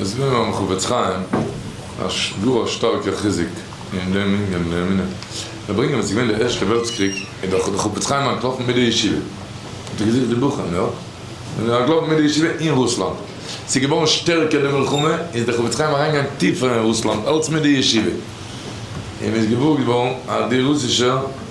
מסביר מיר הרב חפץ חיים אז ס'דא א שטארקע חיזוק אין דעם ענין די אמונה זיי ברענגען ווען ס'איז געווען די ערשטע וועלטס קריג איז דאך דער חפץ חיים אנטלאפן מיט די ישיבה האט ער געזוכט די בחורים יא און איז אנטלאפן מיט די ישיבה אין רוסלאנד ס'איז געווארן שטערקער די מלחמה איז דער חפץ חיים אריינגעגאנגען טיפער אין רוסלאנד אלץ מיט די ישיבה און איז געוואר געווארן אז די רוסישע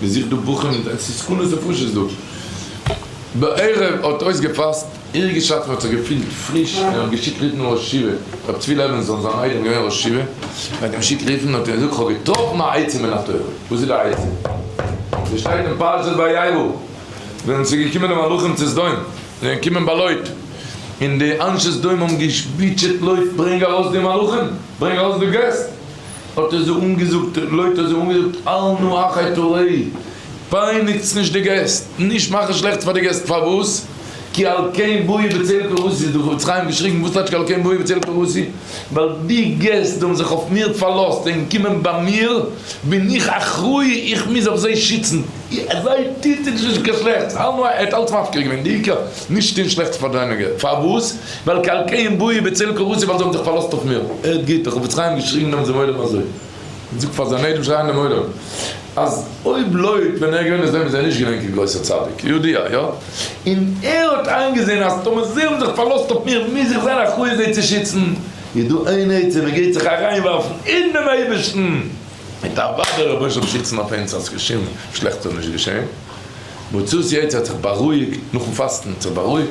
מען זוכט דא בחורים, עס איז סכנות נפשות דא. בערב האט אויסגעפאסט, עיר געשאפן האט זיך געפילט פריש, און האט געשיקט רופן ראש ישיבה רבי צבי לעווינזאן, זיין איידעם געווען ראש ישיבה, מען האט אים געשיקט רופן, האט ער געזאגט איך האב געטראפן א עצה מן התורה, וואס איז די עצה? עס שטייט אין פרשת וירא, ווען עס איז געקומען די מלאכים צו סדום, זיי זענען געקומען ביי לוט, און די אנשי סדום האבן געשפעטשעט לוט ברענג ארויס די מלאכים, ברענג ארויס די געסט, האט ער זיי אנגעזאגט, לויט האט ער זיי אנגעזאגט, אל נא אחי תורי, פייניגטס נישט די געסט, נישט מאכן שלעכטס פאר די געסט, פארוואס? כי על כן באי בצל פרוסי, האט דער חפץ חיים געשריגן, וואס טייטש כי על כן באי בצל פרוסי? ווייל די געסט האבן זיך אויף מיר פארלאזט, זיי זענען געקומען ביי מיר, בין איך אחראי, איך מוז אויף זיי שיצן, זיי טוט אונז נישט קיין שלעכטס, אל נא, ער האט אלץ מפקיר געווען, די עיקר, נישט טון שלעכטס פאר דיינע געסט, פארוואס? ועל כן קיים בואי בצל קורסי ווייל זיי האבן זיך פארלאזט אויף מיר. הערט גוט, החפץ חיים האט געשריבן נעמט דעם עולם אזוי. און זאגט פאר זיין איידעם שרייען דעם עולם אז אויב לויט ווען ער איז געווען אין זעלן איז ער נישט געווען קיין גרויסער צדיק, יודע א, יא? און ער האט איינגעזען אז טאמער זיי האבן זיך פארלאזט אויף מיר מוז איך זיין אחראי זיי צו שיצן. איז דא איין עצה מען גייט זיך אריינווארפן אין דעם אייבערשטן מיט א וואדע רבונו של עולם שיצן אויף אונז אז שום שלעכטס זאל נישט געשען. מוצאי שי צו האט זיך בארואיגט נאכן פאסטן האט זיך בארואיגט.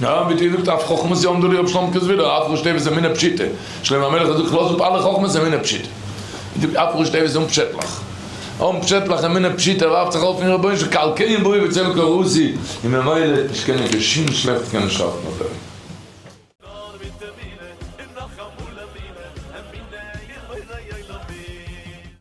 נאר ווי דו זאגסט אויף חכמות יום ד' רבי שלמק'ס ווידער אויף ר' שטייבער'ס אמונה פשוטה, שלמה המלך האט געזאגט כ'לאז אפ אלע חכמות אמונה פשוטה, און זאגט אויף ר' שטייבער'ס אומפשעטליך, אומפשעטליך אמונה פשוטה ווארפט זיך ארויף אין רבונו של כל קיים ברור וצל קרסי, און ממילא האט נישט קענען קיין שום שלעכטס קענען שאפן אויף אים. נאר מיט אמונה און נאך אמאל אמונה, אמונה אין בורא עולמים.